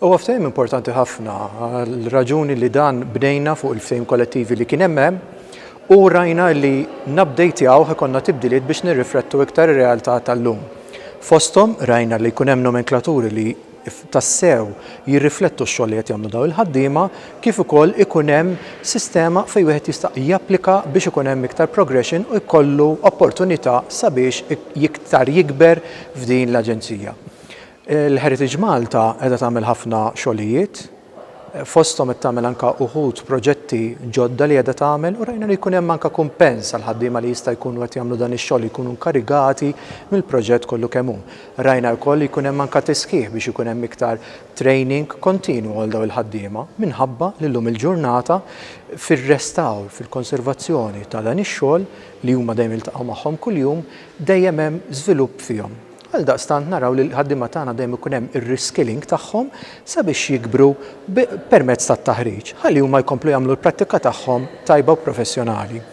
Huwa ftehim importanti ħafna għall-raġuni li dan bnejna fuq il-ftehim kollettivi li kien hemm hemm u rajna li nabdejtjawh ikollna tibdiliet biex nirriflettu iktar ir-realtà tal-lum. Fosthom rajna li jkun hemm nomenklaturi li tassew jirriflettu x-xogħol li qed jagħmlu dawn il-ħaddiema kif ukoll ikun hemm sistema fejn wieħed jista' japplika biex ikun hemm iktar progression u jkollu opportunità sabiex iktar jikber f'din l-Aġenzija. Il-Heritage Malta qiegħda tagħmel ħafna xogħlijiet, fosthom qed tagħmel anke uħud proġetti ġodda li qiegħda tagħmel u rajna li jkun hemm anke kumpens għall-ħaddiema li jista' jkunu qed jagħmlu dan ix-xogħol li jkunu nkarigati mill-proġett kollu kemm hu. Rajna wkoll li jkun hemm anke tisħiħ biex ikun hemm iktar training kontinwu għal dawn il-ħaddiema minħabba li llum il-ġurnata fir-restawr, fil-konservazzjoni ta' dan ix-xogħol li huma dejjem jiltaqgħu magħhom kuljum, dejjem hemm żvilupp fihom. Għaldaqstant naraw li l-ħaddiema tagħna dejjem ikun hemm ir-reskilling tagħhom sabiex jikbru permezz tat-taħriġ, ħalli huma jkomplu jagħmlu l-prattika tagħhom tajba u professjonali.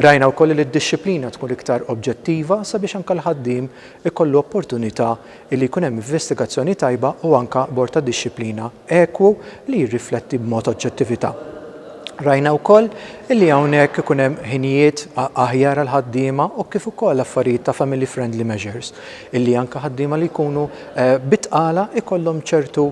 Rajna wkoll li d-dixxiplina tkun iktar oġġettiva sabiex anke l-ħaddiem ikollu opportunità li jkun hemm investigazzjoni tajba u anke abbord ta' dixxiplina ekwu li jirrifletti b'mod oġġettività. Rajna wkoll illi hawnhekk ikun hemm ħinijiet aħjar għall-ħaddiema u kif ukoll affarijiet ta' family friendly measures illi anke ħaddiema li jkunu bit-tqala jkollhom ċertu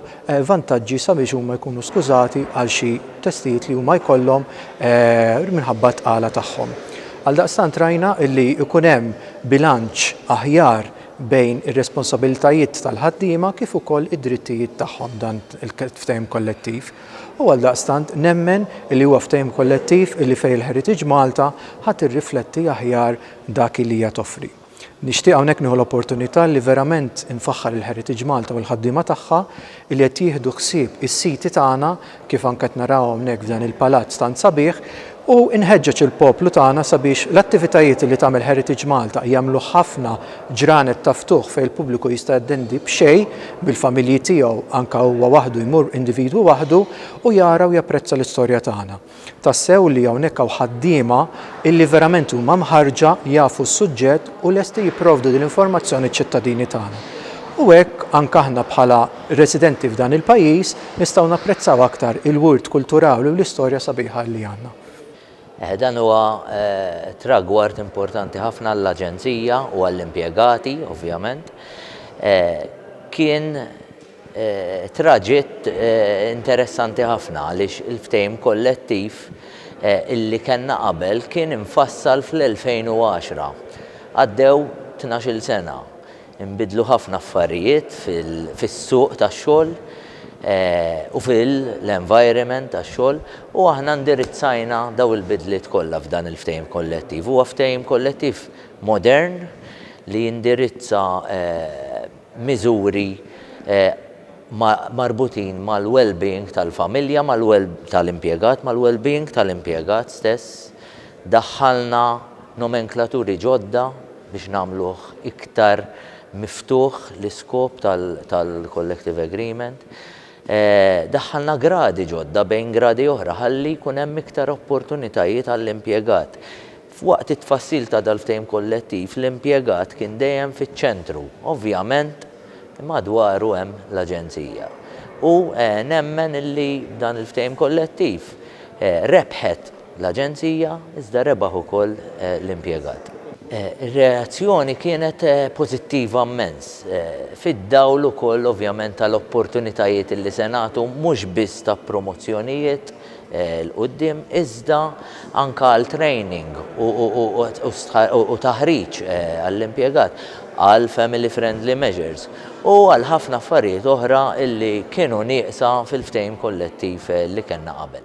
vantaġġi sabiex huma jkunu skużati għal xi testijiet li huma jkollhom minħabba t-tqala tagħhom. Għaldaqstant rajna illi jkun hemm bilanċ aħjar bejn ir-responsabilitajiet tal-ħaddiema kif ukoll id-drittijiet tagħhom dan il-ftehim kollettiv u għaldaqstant nemmen li huwa ftehim kollettiv li fejn il-Heritage Malta ħa tirrifletti aħjar dak li hija toffri. Nixtieq hawnhekk nieħu l-opportunità li verament infaħħar il-Heritage Malta u l-ħaddiema tagħha li qed jieħdu ħsieb is-siti tagħna kif anke qed naraw hawnhekk f'dan il-palazz tant sabiħ, u nħeġġeġ il-poplu tagħna sabiex l-attivitajiet li tagħmel Heritage Malta jagħmluh ħafna ġranet ta' ftuħ fejn il-pubbliku jista' jattendi b'xejn, bil-familji tiegħu, anke huwa waħdu jmur individwu waħdu, u jara u japprezza l-istorja tagħna. Tassew li hawnhekk hawn ħaddiema illi verament huma mħarrġa, jafu s-suġġett u lesti jipprovdu din l-informazzjoni ċ-ċittadini tagħna. U hekk anke aħna bħala residenti f'dan il-pajjiż, Nistgħu napprezzaw aktar il-wirt kulturali u l-istorja sabiħa li għandna. Dan huwa tragward importanti ħafna għall-Aġenzija u għall-impjegati, ovvjament. Kien traġitt interessanti ħafna għaliex il-ftehim kollettiv li kellna qabel kien imfassal fl-2010. Għaddew tnax-il sena. Inbidlu ħafna affarijiet fis-suq tax-xogħol u fil-environment tax-xogħol u aħna indirizzajna dawn il-bidliet kollha f'dan il-ftehim kollettiv. Huwa ftehim kollettiv modern li jindirizza miżuri marbutin mal-wellbeing tal-familja, tal-impjegat, mal-wellbeing tal-impjegat stess. Daħħalna nomenklaturi ġodda biex nagħmluh iktar miftuħ l-iskop tal-collective agreement. Daħħalna gradi ġodda bejn gradi oħra ħalli jkun hemm iktar opportunitajiet għall-impjegat. Waqt it-tfassil ta' dal-ftehim kollettiv, l-impjegat kien dejjem fiċ-ċentru. Ovvjament, madwaru hemm l-Aġenzija. U nemmen li dan il-ftehim kollettiv rebħet l-Aġenzija, iżda rebaħ ukoll l-impjegat. Ir-reazzjoni kienet pożittiva mmens, fid-dawl ukoll ovvjament tal-opportunitajiet li se nagħtu mhux biss ta' promozzjonijiet 'l quddiem iżda anke għal training u taħriġ għall-impjegat, għal family friendly measures u għal ħafna affarijiet oħra li kienu nieqsa fil-ftehim kollettiv li kellna qabel.